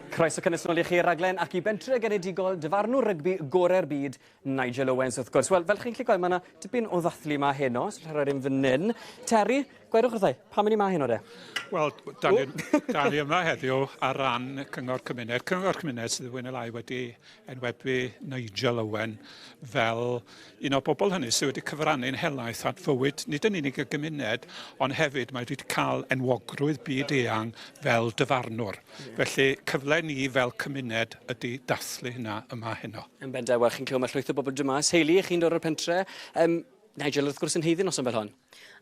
Croeso cynnes nôl i chi raglen ac i bentre genedigol dyfarnwr rygbi gorau'r byd, Nigel Owens wrth gwrs. Wel, fel chi'n gallu gweld, mae yna dipyn o ddathlu yma heno, os rhaid rhoi un fan hyn. Terry, gwerwch wrthau, pam yn i ma heno de? Wel, da ni, da ni yma heddiw ar ran Cyngor Cymuned. Cyngor Cymuned sydd wedi fwy neu lai wedi enwebu Nigel Owen fel un o'r bobl hynny sydd wedi cyfrannu'n helaeth at fywyd nid yn unig y gymuned, ond hefyd mae wedi cael enwogrwydd byd eang fel dyfarnwr. Felly, cyfle ni fel cymuned ydy dathlu hynna yma heno. Yn bendant, wel, chi'n clywed mae llwyth o bobl drwy mas. Hayley, chi'n dod o'r pentre. Um, Nigel, wrth gwrs, yn haeddu noson fel hon.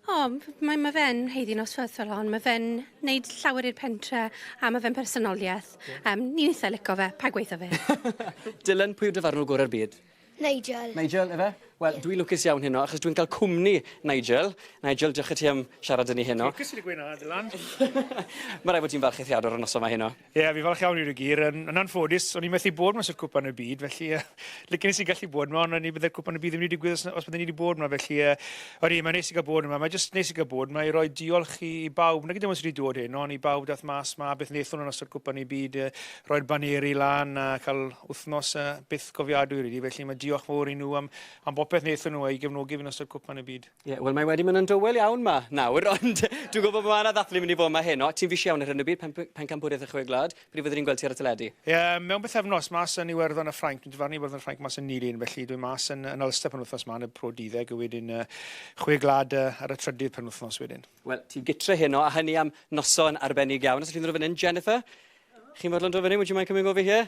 O, mae, mae fe'n heiddi nosweithol hon. Mae fe'n neud llawer i'r pentre a mae fe'n personoliaeth. Yeah. Um, ni'n eitha lico fe, pa gweithio fe. Dylan, pwy yw dyfarnwr gorau'r byd? Nigel. Nigel, efe? Wel, yeah. dwi'n lwcus iawn heno, achos dwi'n cael cwmni Nigel. Nigel, diolch i ti am siarad yn ni heno. Lwcus i ti gweud na, Dylan. Mae rai fod ti'n falch eithriadol o'r noson mae heno. Ie, fi falch iawn i nhw gyd. Yn, yn anffodus, o'n i methu bod mas o'r cwpan y byd, felly uh, licen i gallu bod yma, ond o'n i byddai'r cwpan y byd ddim wedi digwydd os, os byddwn i wedi bod yma, felly uh, o'n i, mae'n neis i gael bod yma, mae'n jyst neis i gael bod yma i roi diolch i bawb, nag ydym ond wedi dod hyn, ond i bawb dath mas yma, beth wnaethon nhw'n ystod cwpan y byd, uh, roi'r baneri lan a cael wythnos uh, byth gofiadwy rydw, felly mae diolch fawr i nhw am, am bopeth wnaethon nhw a'i gefnogi fi'n ystod cwpan y byd. Ie, wel mae wedi mynd yn dywel iawn 'ma nawr, ond dwi'n gwybod bod yna ddathlu mynd i fod 'ma heno. Ti'n fis iawn ar hyn o bryd, pen- pencampwriaeth y Chwe Gwlad. Pryd fyddwn ni'n gweld ti ar y teledu? Ie, mewn bythefnos, mas yn Iwerddon a Ffrainc. Dwi'n dyfarnu Iwerddon a Ffrainc mas yn Nilyn, felly dwi'n mas yn, yn Ulster penwythnos 'ma yn y Pro 12 a wedyn uh, Chwe Gwlad uh, ar y trydydd penwythnos wedyn. Wel, ti'n gytre heno, a hynny am noson arbennig iawn. Os ydych chi'n dod o fan hyn, Jennifer, chi'n fodlon dod fan hyn, would you mind coming over here?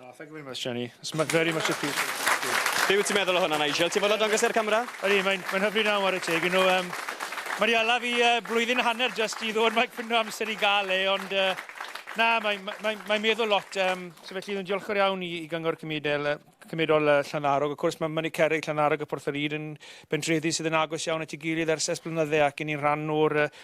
Oh, thank you very much, Jenny. It's very much appreciated. Be wyt ti'n meddwl o hwnna, Nigel? Ti'n fawr o dangos i'r camera? Ydy, mae'n mae hyfryd naw ar y teg. You know, um, mae di ala fi uh, blwyddyn hanner just i ddod mae cwno amser i gael e, ond uh, na, mae'n mae, mae, mae meddwl lot. Um, so felly, dwi'n diolchgar iawn i, i gyngor cymudel, uh, cymudol uh, Llanarog. Of cwrs, mae Mynydd Cerig, Llanarog a Porth yr Ŷd yn bentrefi sydd yn agos iawn at ei gilydd ers ers blynydde ac yn un rhan o'r uh,